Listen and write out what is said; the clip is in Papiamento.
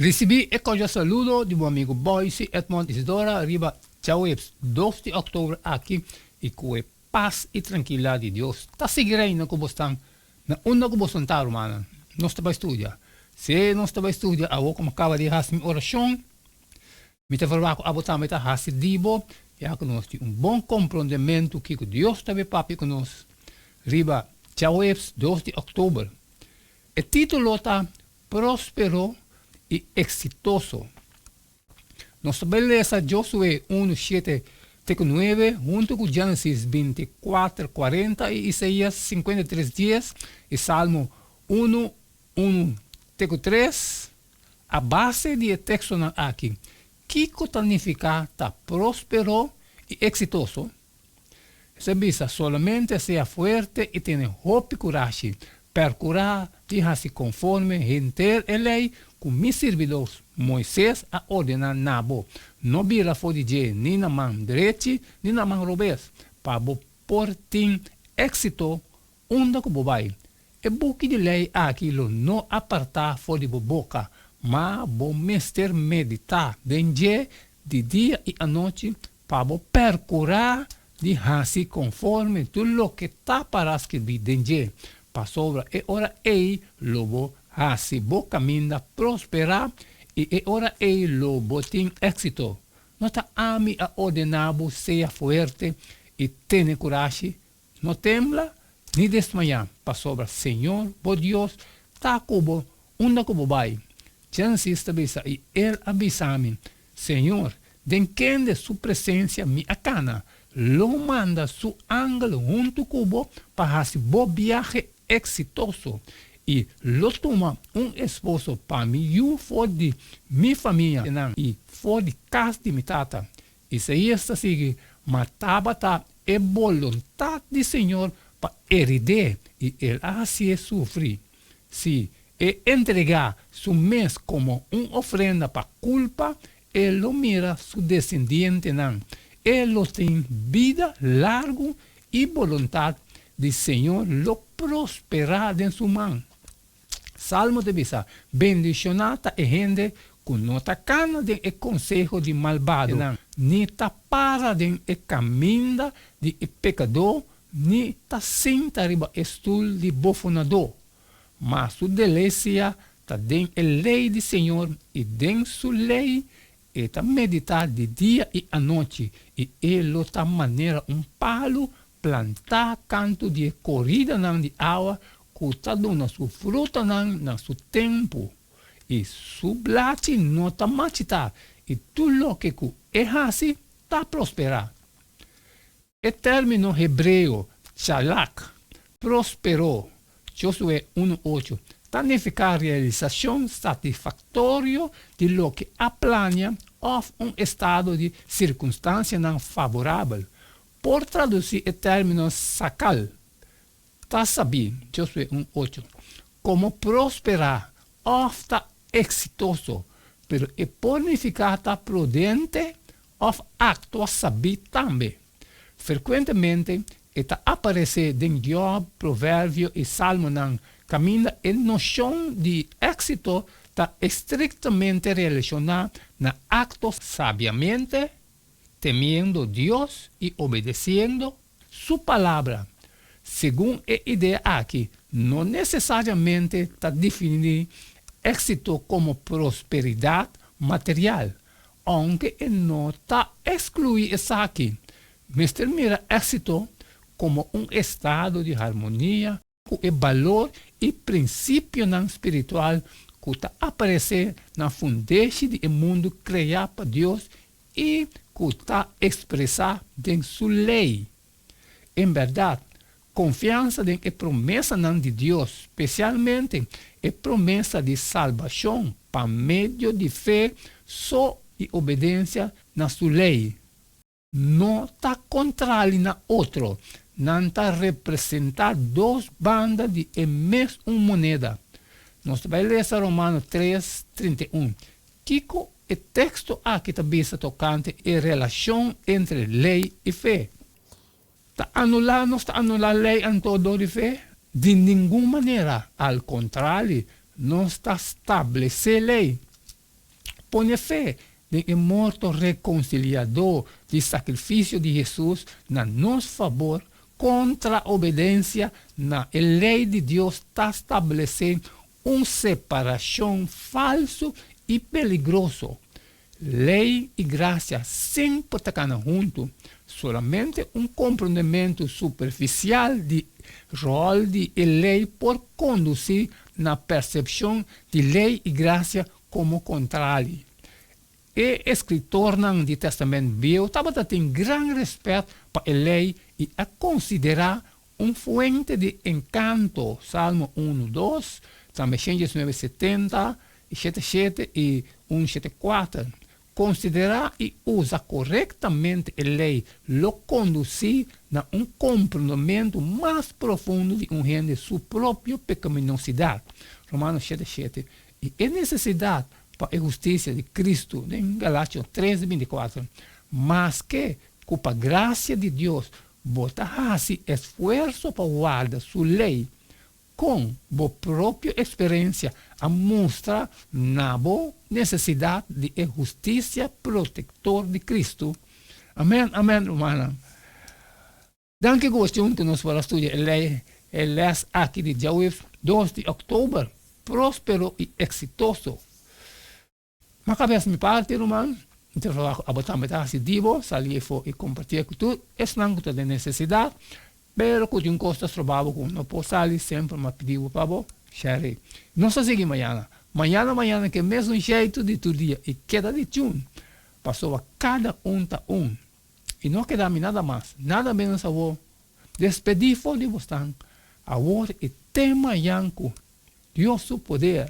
Risibí e cordial saludo di bo amigo Boyce Edmond Isidora riba djaweps dos di october aki i cu e paz i trankilidad di Dios ta sigui reina cu bo stan na unda cu bo santa rumannan. Nos ta bai studia. Se nos ta bai studia awo cu mi caba di haci mi oracion mi ta verba cu abo tambe ta haci di bo ya cu nos tin un bon comprondementu kico Dios ta bai papia cu nos riba djaweps dos di october. E titulo ta Prospero i Exitoso. Nos ta bai lesa Josué unu shete te ku nuebe huntu ku Génesis binti kuater kuarenta i Isaías sinkuenta i tres dies i Salmo unu unu te ku tres. A base di e tekstonan aki, kiko ta nifiká ta prospero i eksitoso? Esei a bisa, Solamente sea fuerte i tene hopi kurashi. Perkurá di hasi konforme henter e lei ku mi sirbidó Moises a ordená na bo. No bira for di dje ni na man drechi ni na man robes, pa bo por tin éksito unda ku bo bai. E buki di lei aki lo no apartá for di bo boka, ma bo mester meditá den dje di dia i anochi Pa bo percurá di haci conforme tur loke ta para scribí den dje, pasobra e ora ei lo bo haci bo caminda prosperá i e ora ei lo bo tin éxito. No ta Ami a ordená bo sea fuerte i tene curashi? No tembla, ni desmayá, pasobra Señor bo Dios ta ku bo unda ku bo bai. Djansis ta bisa, I el a bisa mi, Señor, den kende su presensia mi a kana. Lo manda su angel huntu ku bo pa hasi bo biahe eksitoso, i lo tuma un esposo pa mi yu for di mi famia nan i for di kas di mi tata, Isaías ta sigui, Ma tabata e boluntat di Señor pa erid'é, i el a hasié sufri, sí, e entregá su mes komo un ofrenda pa kulpa, e lo mira su desendientenan, e lo tin bida largu, i boluntat di Señor lo prosperá den su man. Salmo ta bisa, Bendishoná ta e hende ku no ta kana den e konseho di malbado, ni ta para den e kaminda di e pekadó, ni ta sinta riba e stul di bofonadó. Ma su delesia ta den e lei di Señor, i den su lei e ta meditá di dia i anochi, i e lo ta manera un palu Plantá kantu di e koridanan di awa ku ta duna su frutanan na su tempu, i su blachi no ta machitá, i tur loke ku e hasi ta prosperá. E término hebreo chalak, prosperó, Josué unu ocho, ta nifiká realisashon satisfaktorio di loke a plania òf un estado di sirkunstansianan favorabel, Por traduci e termino sacal, ta sabi, Josué un ocho, como prospera of ta exitoso, pero e por nifica ta prudente of actua sabi tambe. Frecuentemente e ta aparece den Job, Proverbio y Salmonan, caminda e nocion di exito ta estrictamente relaciona na acto sabiamente, temiendo Dios i obedesiendo Su Palabra. Segun e idea aki no nesesariamente ta definí éxito komo prosperidat material, ounke e no ta ekskluí esaki. Mester mira éxito komo un estado di harmonia, ku e balor i prinsipionan spiritual ku ta aparesé na fundeshi di e mundu kreá pa Dios i ku ta ekspresá den su Lei. En bèrdat, konfiansa den e promesanan di Dios, spesialmente e promesa di salbashon pa medio di fe so i obedensia na su Lei, No ta kontrali na otro. Nan ta representá dos banda di e mes un moneda. Nos ta bai lesa Romano tres, trinta i un. Kiko e teksto akí ta bisa tokante e relashon entre lei i fe? Ta anulá nos ta anulá lei anto dor di fe? Di ningun manera! Al kontrali, nos ta stablesé lei. Pone fe den e morto rekonsiliadó di sakrifisio di Hesus na nos fabor kontra obedensia na e lei di Dios ta stablesé un separashon falsu i peligroso. Lei i grasia semper ta kana huntu. Solamente un komprondementu superfisial di ròl di e lei por kondusí na persepshon di lei i grasia komo kontrali. E eskritornan di Tèstamènt Bieu tabata tin gran rèspèt pa e lei i a konsiderá un fuente di enkanto, Salmo unu dos, tambe Xénjesis nueve setenta i siete siete i un siete kuater, Konsiderá i usa korektamente e lei lo kondusí na un komprondementu mas profundo di un hende su propio pekaminosidat, Romano shete shete, i e nesesidat pa e hustisia di Kristu, den Galatios tres di binti kuater. Maske ku pa grasia di Dios bo ta hasi esfuerso pa warda su lei, Kon bo propio eksperensia a mustra na bo nesesidat di e hustisia protektor di Kristu? Amèn, amèn, rumannan. Danki ku bo stay huntu nos for a studia e lei, e lès aki di diawyf dos di òktober. Próspero i eksitoso! Ma cabes mi parti ruman mi ta trabaha cu abo tambe ta haci dibo sali efo y comparti cu tur esnan cu ta den necesidad pero cu tin cos ta estrobabo cu no por sali semper mi a pidibo pa bo share nos ta sigui mañana mañana mañana ke mesun sheitu di tur dia y keda di chun pasobra cada un ta un y no a keda mi nada mas nada menos awor despedi for di bosnan awor y te mañan cu dios su poder.